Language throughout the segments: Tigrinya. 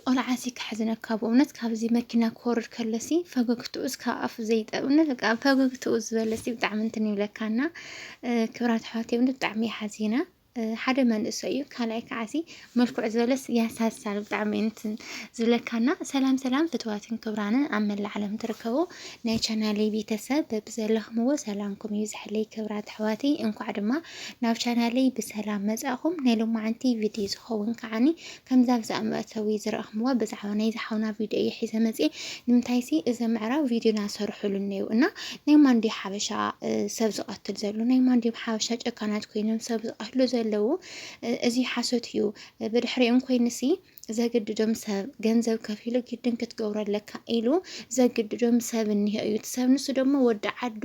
ቆልዓሲ ከሕዝነካ ብእውነት ካብዚ መኪና ክወርድ ከሎሲ ፈገግትኡስ ካብ ኣፉ ዘይጠብ እውነት በቃ ፈገግትኡ ዝበለሲ ብጣዕሚ እንትን ይብለካና ክብራት ኣሕዋት እውነት ብጣዕሚ ሓዚና ሓደ መንእሰይ እዩ ካልኣይ ከዓሲ መልክዑ ዝበለስ ያሳሳል ብጣዕሚ እንትን ዝብለካና ሰላም ሰላም ፍትዋትን ክብራንን ኣብ መላእ ዓለም ትርከቡ ናይ ቻናሊ ቤተሰብ በብዘለኹምዎ ሰላምኩም ይብዝሐለይ ክብራት ኣሕዋተይ እንኳዕ ድማ ናብ ቻናለይ ብሰላም መጻእኹም ናይ ሎማዓንቲ ቪድዮ ዝኸውን ከዓኒ ከምዛ ኣብዚ ኣብ መእተዊ ዝረኣኽምዋ ብዛዕባ ናይዚ ሓውና ቪድዮ እየ ሒዘ መጽየ ንምንታይሲ እዚ ምዕራብ ቪድዮና ሰርሑሉ እነዩ እና ናይ ማን ድዩ ሓበሻ ሰብ ዝቐትል ዘሎ ናይ ማን ድዮም ሓበሻ ጨካናት ኮይኖም ሰብ ዝቐትሉ ዘለዉ እዚ ሓሶት እዩ ብድሕሪኦም ኮይንሲ ዘግድዶም ሰብ ገንዘብ ከፊሉ ግድን ክትገብሮ ኣለካ ኢሉ ዘግድዶም ሰብ እኒሆ እዩ እቲ ሰብ ንሱ ደሞ ወዲ ዓዱ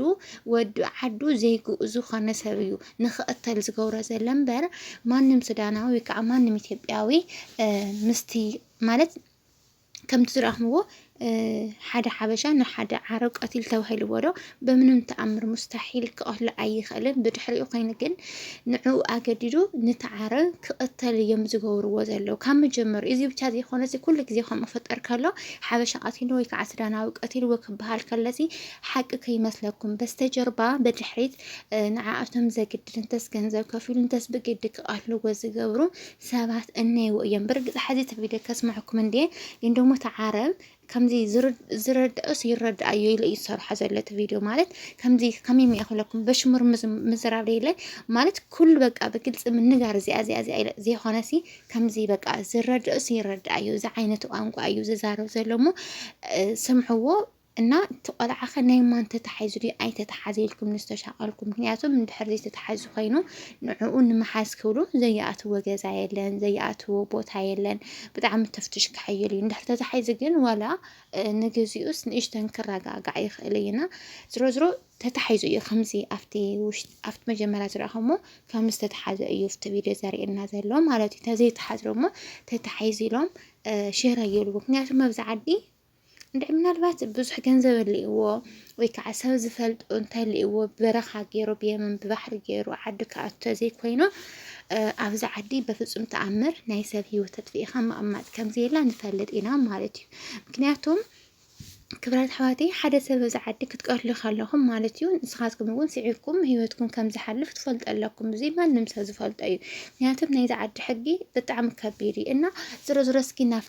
ወዲ ዓዱ ዘይግኡ ዝኾነ ሰብ እዩ ንክቕተል ዝገብሮ ዘሎ እምበር ማንም ሱዳናዊ ወይ ከዓ ማንም ኢትዮጵያዊ ምስቲ ማለት ከምቲ ዝረኣኽምዎ ሓደ ሓበሻ ንሓደ ዓረብ ቀቲል ተባሂልዎ ዶ ብምንም ተኣምር ሙስታሒል ክቐትሎ ኣይኽእልን። ብድሕሪኡ ኮይኑ ግን ንዕኡ ኣገዲዱ ነቲ ዓረብ ክቕተል እዮም ዝገብርዎ ዘለዉ ካብ መጀመሩ። እዚ ብቻ ዘይኮነ እዚ ኩሉ ግዜ ከምኡ ክፍጠር ከሎ ሓበሻ ቀቲሉ ወይ ከዓ ሱዳናዊ ቀቲልዎ ክበሃል ከለዚ ሓቂ ከይመስለኩም በስተጀርባ ብድሕሪት ንዓኣቶም ዘግድድ እንተስ ገንዘብ ከፊሉ እንተስ ብግዲ ክቐትልዎ ዝገብሩ ሰባት እነይዎ እዮም። ብርግፅ ሓዚ እቲ ቪድዮ ከስምዐኩም እንድየ ግን ደሞ እቲ ዓረብ ከምዚ ዝረድኦስ ይረድኣዮ ኢለ እዩ ዝሰርሖ ዘሎ እቲ ቪድዮ ማለት ከምዚ ከመይ እየ ክብለኩም በሽሙር ምዝራብ ደይለ ማለት ኩሉ በቃ ብግልፂ ምንጋር እዚኣ እዚኣ እዚኣ ኢለ ዘይኮነሲ ከምዚ በቃ ዝረድኦስ ይረድኣዮ እዚ ዓይነት ቋንቋ እዩ ዝዛረብ ዘሎ እሞ ስምዕዎ እና እቲ ቆልዓ ከ ናይ ማን ተታሒዙ ድዩ ኣይተታሓዘ ኢልኩም ንዝተሻቀልኩም ምክንያቱ እንድሕር ዘይተታሓዙ ኮይኑ ንዕኡ ንምሓዝ ክብሉ ዘይኣትዎ ገዛ የለን ዘይኣትዎ ቦታ የለን ብጣዕሚ ተፍትሽ ክሕይል እዩ እንድሕር ተታሒዙ ግን ዋላ ንግዚኡስ ንእሽተን ክረጋጋዕ ይኽእል እዩ እና ዝሮ ዝሮ ተታሒዙ እዩ ከምዚ ኣብቲ ውሽጢ ኣብቲ መጀመርያ ዝረኣኹሞ ከም ዝተታሓዘ እዩ ኣብቲ ቪድዮ ዘርእየና ዘሎ ማለት እዩ ተዘይተሓዝሮ እሞ ተታሒዙ ኢሎም ሽረ ይብሉ ምክንያቱ ኣብዚ ዓዲ እንድዒ ምናልባት ብዙሕ ገንዘብ ኣልእዎ ወይ ከዓ ሰብ ዝፈልጡ እንተልእዎ በረኻ ገይሩ ብየመን ብባሕሪ ገይሩ ዓዲ ክኣቱ ተዘይኮይኑ ኣብዚ ዓዲ በፍፁም ተኣምር ናይ ሰብ ህይወት ተጥፍኢኻ ምቕማጥ ከምዘየላ ንፈልጥ ኢና ማለት እዩ ምክንያቱም ክብራት ኣሕዋተይ ሓደ ሰብ እዚ ዓዲ ክትቀትሉ ከለኹም ማለት እዩ ንስኻትኩም እውን ስዒርኩም ህይወትኩም ከም ዝሓልፍ ትፈልጡ ኣለኩም እዚ ማንም ሰብ ዝፈልጦ እዩ ምክንያቱም ናይዚ ዓዲ ሕጊ ብጣዕሚ ከቢድ እዩ እና ዝሮ ዝሮ እስኪ ናብ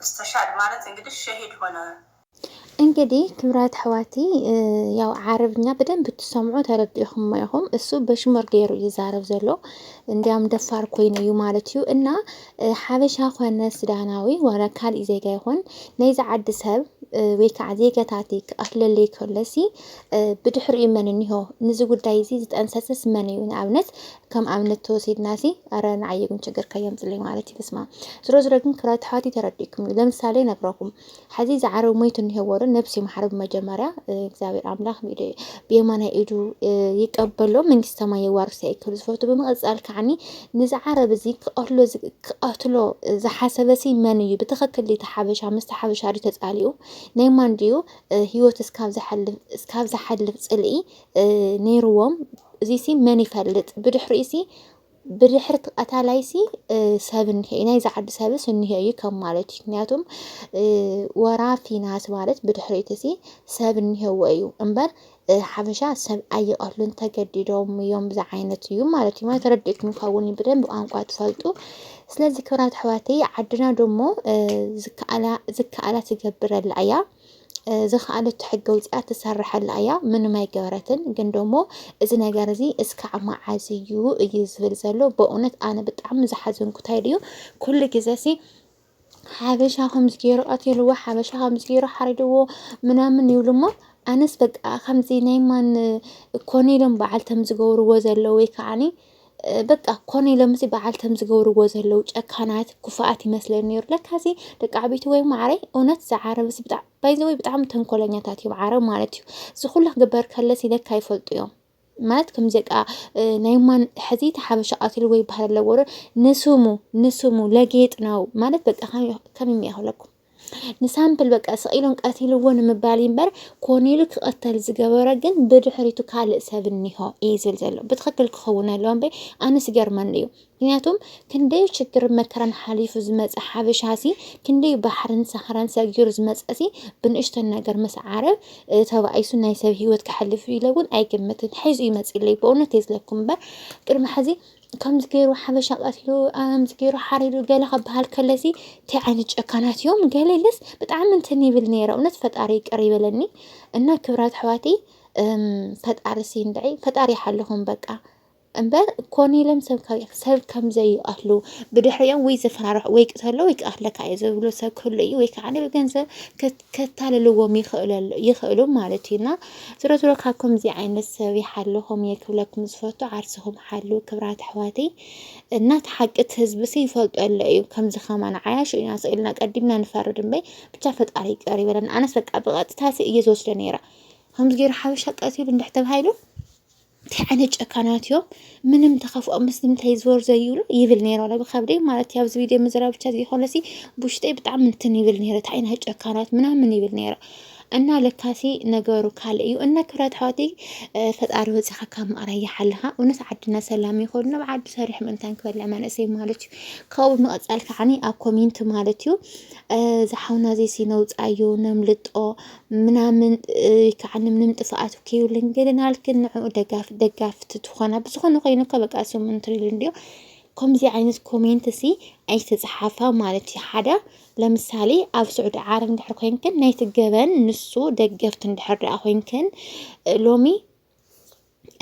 እስተሻድ ማለት እንግዲህ ሸሂድ ሆነ። እንግዲ ክብራት ኣሕዋቲ ያው ዓረብኛ ብደንብ ትሰምዑ ተረዲእኹሞ ኢኹም። እሱ በሽሙር ገይሩ እዩ ዛረብ ዘሎ እንዲያም ደፋር ኮይኑ እዩ ማለት እዩ እና ሓበሻ ኮነ ሱዳናዊ ዋላ ካልእ ዜጋ ይኹን ናይዚ ዓዲ ሰብ ወይ ከዓ ዜጋታት ክኣክለለይ ከሎሲ ብድሕሪኡ መን እኒሆ ንዚ ጉዳይ እዚ ዝጠንሰስስ መን እዩ ንኣብነት ከም ኣብነት ተወሲድና ሲ ኣረ ንዓይ ግን ችግር ከየምፅለይ ማለት እዩ። በስማ ዝሮ ዝሮ ግን ክብራት ተሓዋት ተረዲእኩም እዩ። ለምሳሌ ነግረኩም ሓዚ ዝዓረብ ሞይቱ እኒሄዎ ዶ ነብሲ ማሕረብ መጀመርያ እግዚኣብሔር ኣምላኽ ብየማናይ ኢዱ ይቀበሎ መንግስተ ሰማይ የዋርሶ ይክል ዝፈቱ ብምቕፃል ከዓኒ ንዝዓረብ እዚ ክቐትሎ ክቐትሎ ዝሓሰበ ሲ መን እዩ ብትኽክል እቲ ሓበሻ ምስቲ ሓበሻ ድዩ ተፃሊኡ ናይ ማን ድዩ ህይወት እስካብ ዝሓልፍ ፅልኢ ኔርዎም እዚሲ መን ይፈልጥ ብድሕሪኡሲ ብድሕሪ እቲ ቀታላይሲ ሰብ እኒሀ እዩ ናይዚ ዓዲ ሰብስ እኒሀ እዩ ከም ማለት እዩ ምክንያቱም ወራፊ ናት ማለት ብድሕሪ እቲሲ ሰብ እኒሀዎ እዩ እምበር ሓበሻ ሰብ ኣይቐትሉን ተገዲዶም እዮም ብዛ ዓይነት እዩ ማለት እዩ ማለት ተረድእኩም ይኸውን ብደንብ ቋንቋ ትፈልጡ ስለዚ ክብራት ኣሕዋተይ ዓድና ደሞ ዝከኣላ ትገብረላ እያ ዝኸኣለቶ ሕጊ ኣውፂኣ ትሰርሐላ እያ ምንም ኣይገበረትን ግን ደሞ እዚ ነገር እዚ እስካዕ መዓዝ እዩ እዩ ዝብል ዘሎ በእውነት ኣነ ብጣዕሚ ዝሓዘንኩት ኢዩ ኩሉ ግዜ ሲ ሓበሻ ከምዚ ገይሩ ቀቲልዎ ሓበሻ ከምዚ ገይሩ ሓሪድዎ ምናምን ይብሉ እሞ ኣነስ በቃ ከምዚ ናይ ማን ኮነ ኢሎም በዓልቶም ዝገብርዎ ዘለዉ ወይ ከዓኒ በቃ ኮነ ኢሎም እዚ በዓል ከም ዝገብርዎ ዘለዉ ጨካናት ኩፋኣት ይመስለኒ ነይሩ ለካ እዚ ደቂ ዓበይቲ ወይ ማዕረይ እውነት ዝዓረብ እዚ ብጣዕ ባይዘወይ ብጣዕሚ ተንኮለኛታት እዮም ዓረብ ማለት እዩ እዚ ኩላ ክግበር ከለሲ ለካ ይፈልጡ እዮም ማለት ከም ዘቃ ናይ ማን ሕዚ ተሓበሻ ቀትሉ ወይ ባህል ኣለዎ ንስሙ ንስሙ ለጌጥ ነው ማለት በቃ ከም የሚያህለኩም ንሳምፕል በቃ ስቂሎም ቀቲልዎ ንምባል እምበር ኮኔሉ ክቐተል ዝገበረ ግን ብድሕሪቱ ካልእ ሰብ እኒሆ እዩ ዝብል ዘሎ ብትክክል ክኸውን ኣለዎ እምበይ ኣነስ ይገርመኒ እዩ ምክንያቱም ክንደይ ችግር መከራን ሓሊፉ ዝመፀ ሓበሻ ሲ ክንደይ ባሕርን ሳሕራን ሰጊሩ ዝመፀ ሲ ብንእሽተን ነገር ምስ ዓረብ እ፣ ተባኢሱ ናይ ሰብ ሂወት ክሓልፍ ኢለ እውን ኣይግምትን ሒዙ ይመፅእ ኢለይ ብእውነት እየ ዝለኩም እምበር ቅድሚ ሕዚ ከምዚ ገይሩ ሓበሻ ቀቲሉ ከምዚ ገይሩ ሓሪዱ ገለ ክበሃል ከሎሲ እንታይ ዓይነት ጨካናት እዮም ገለ ኢለስ ብጣዕሚ እንትን ይብል ነይረ እውነት ፈጣሪ ይቅር ይበለኒ እና ክብራት ኣሕዋተይ እም፣ ፈጣሪ ሲንድዒ ፈጣሪ ይሓልኹም በቃ እምበር ኮነ ኢሎም ሰብ ካብ- ሰብ ከም ዘይቀትሉ ብድሕሪኦም ወይ ዘፈራርሑ ወይ ቅተሎ ወይ ክቀትለካ እዩ ዝብሉ ሰብ ክህሉ እዩ ወይ ከዓ ብገንዘብ ከታልልዎም ይኽእለሉ ይኽእሉ ማለት እዩ እና ዝሮዝሮ ካብ ከምዚ ዓይነት ሰብ ይሓልኹም እየ ክብለኩም ዝፈቱ ዓርስኹም ሓልው ክብራት ኣሕዋተይ እና ተሓቅት ህዝብሲ ይፈልጦ ኣሎ እዩ ከምዚ ከማን ዓያሹ ኢና ስኢልና ቀዲምና ንፈርድ እምበይ ብቻ ፈጣሪ ይቅር ይበለን ኣነስ በቃ ብቐጥታሲ እየ ዝወስደ ነይረ ከምዚ ገይሩ ሓበሻ ቀቲሉ እንድሕ ተባሂሉ እንታይ ዓይነት ጨካናት እዮም ምንም ተኸፍኦም ምስ ንምንታይ ዞር ዘይብሉ ይብል ነይሩ ኣለ ብከብደይ ማለት እዩ ኣብዚ ቪድዮ ምዝራ ብቻ ዘይኮነሲ ብውሽጠይ ብጣዕሚ እንትን ይብል ነይሩ እንታይ ዓይነት ጨካናት ምናምን ይብል ነይሩ እና ለካሲ ነገሩ ካልእ እዩ እና ክብረት ሓወቲ ፈጣሪ ወፂኻ ካብ ምቕራይ ይሓልኻ እውነት ዓድና ሰላም ይኾኑ ናብ ዓዱ ሰሪሕ ምእንታን ክበልዕ መንእሰይ ማለት እዩ ካብኡ ብምቕፃል ከዓኒ ኣብ ኮሜንት ማለት እዩ ዝሓውና ዘይሲ ነውፃዮ ነምልጦ ምናምን ከዓኒ ምንም ጥፍኣት ከይብልን ገለን ሃልክን ንዕኡ ደጋፍ ደጋፍቲ ትኾና ብዝኾነ ኮይኑ እኮ በቃ እሶም እንትሪሉ እንዲዮ ከምዚ ዓይነት ኮሜንት ሲ ኣይተፅሓፋ ማለት እዩ ሓደ ለምሳሌ ኣብ ስዑዲ ዓረብ እንድሕር ኮይንክን ናይቲ ገበን ንሱ ደገፍቲ እንድሕር ደኣ ኮይንክን ሎሚ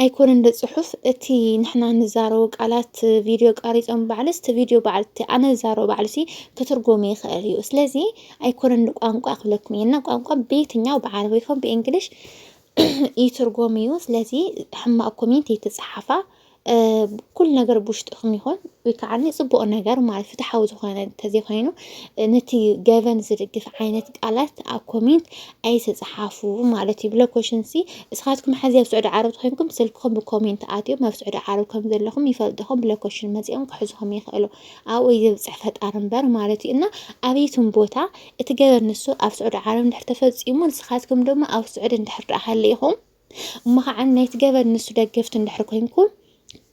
ኣይኮነን ዶ ጽሑፍ እቲ ንሕና ንዛረቦ ቃላት ቪድዮ ቀሪጾም ባዕልስ እቲ ቪድዮ ባዕል እቲ ኣነ ዝዛረቦ ባዕልሲ ክትርጎም ይኽእል እዩ። ስለዚ ኣይኮነን ዶ ቋንቋ ክብለኩም እየ እና ቋንቋ በየትኛው ብዓረብ ይኹን ብእንግሊሽ ይትርጎም እዩ። ስለዚ ሕማቅ ኮሜንት ይትጽሓፋ ኩሉ ነገር ብውሽጥኹም ይኹን ወይ ከዓ ፅቡቕ ነገር ማለት ፍትሓዊ ዝኾነ እንተዘይኮይኑ ነቲ ገበን ዝድግፍ ዓይነት ቃላት ኣብ ኮሜንት ኣይተፅሓፉ ማለት እዩ ብሎኮሽን ሲ እስኻትኩም ሕዚ ኣብ ስዑዲ ዓረብ ተኮይንኩም ስልክኹም ብኮሜንት ኣትዮም ኣብ ስዑዲ ዓረብ ከም ዘለኹም ይፈልጥኹም ብሎኮሽን መፂኦም ክሕዝኹም ይኽእሉ ኣብኡ እዩ ዘብፅሕ ፈጣሪ እምበር ማለት እዩ እና ኣበይቱም ቦታ እቲ ገበን ንሱ ኣብ ስዑዲ ዓረብ እንድሕር ተፈፂሙ ንስኻትኩም ድማ ኣብ ስዑዲ እንድሕር ደኣ ሃሊኢኹም እሞ ከዓ ናይቲ ገበን ንሱ ደገፍቲ እንድሕር ኮይንኩም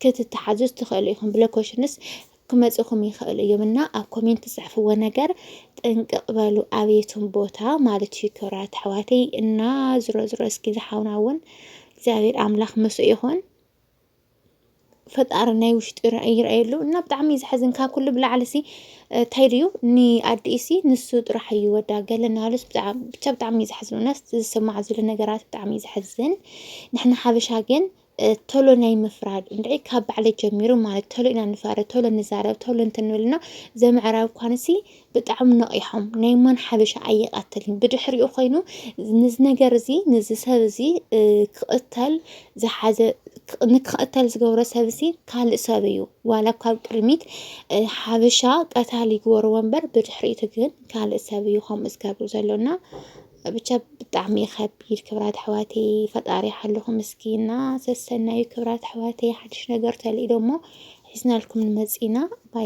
ክትተሓዙ ትኽእሉ ኢኹም ብሎኮሽንስ ክመፅኹም ይኽእሉ እዮም እና ኣብ ኮሜንት ዝፅሕፍዎ ነገር ጥንቅቕ በሉ ኣብየቱም ቦታ ማለት እዩ ክብራት ኣሕዋተይ እና ዝሮ ዝሮ እስኪ ዝሓውና እውን እግዚኣብሔር ኣምላኽ ምስ ይኹን ፈጣሪ ናይ ውሽጢ ይርኣየሉ እና ብጣዕሚ እዩ ዝሓዝን። ካብ ኩሉ ብላዕሊ ሲ እንታይ ድዩ ንኣዲኡ ሲ ንሱ ጥራሕ እዩ ወዳ ገለ እናበለስ ብቻ ብጣዕሚ እዩ ዝሓዝን። እውነት ዝስማዕ ዘሎ ነገራት ብጣዕሚ እዩ ዝሓዝን። ንሕና ሓበሻ ግን ቶሎ ናይ ምፍራድ እንድዒ ካብ ባዕለ ጀሚሩ ማለት ቶሎ ኢና ንፈርድ፣ ቶሎ ንዛረብ፣ ቶሎ እንትንብል እና ዘምዕራብ ኳንሲ ብጣዕሚ ነቒሖም ናይ ማን ሓበሻ ኣይቐትልን ብድሕሪኡ ኮይኑ ንዚ ነገር እዚ ንዚ ሰብ እዚ ክቕተል ዝሓዘ ንክቕተል ዝገብሮ ሰብ እዚ ካልእ ሰብ እዩ ዋላ ካብ ቅድሚት ሓበሻ ቀታሊ ይግበርዎ እምበር ብድሕሪቱ ግን ካልእ ሰብ እዩ ከምኡ ዝገብር ዘሎና ብቻ ብጣዕሚ ከቢድ ክብራት ኣሕዋተይ ፈጣሪ ሓልኹም እስኪ እና ሰሰናዩ ክብራት ኣሕዋተይ ሓድሽ ነገር ተልኢዶ እሞ ሒዝናልኩም ንመፅኢና ባይ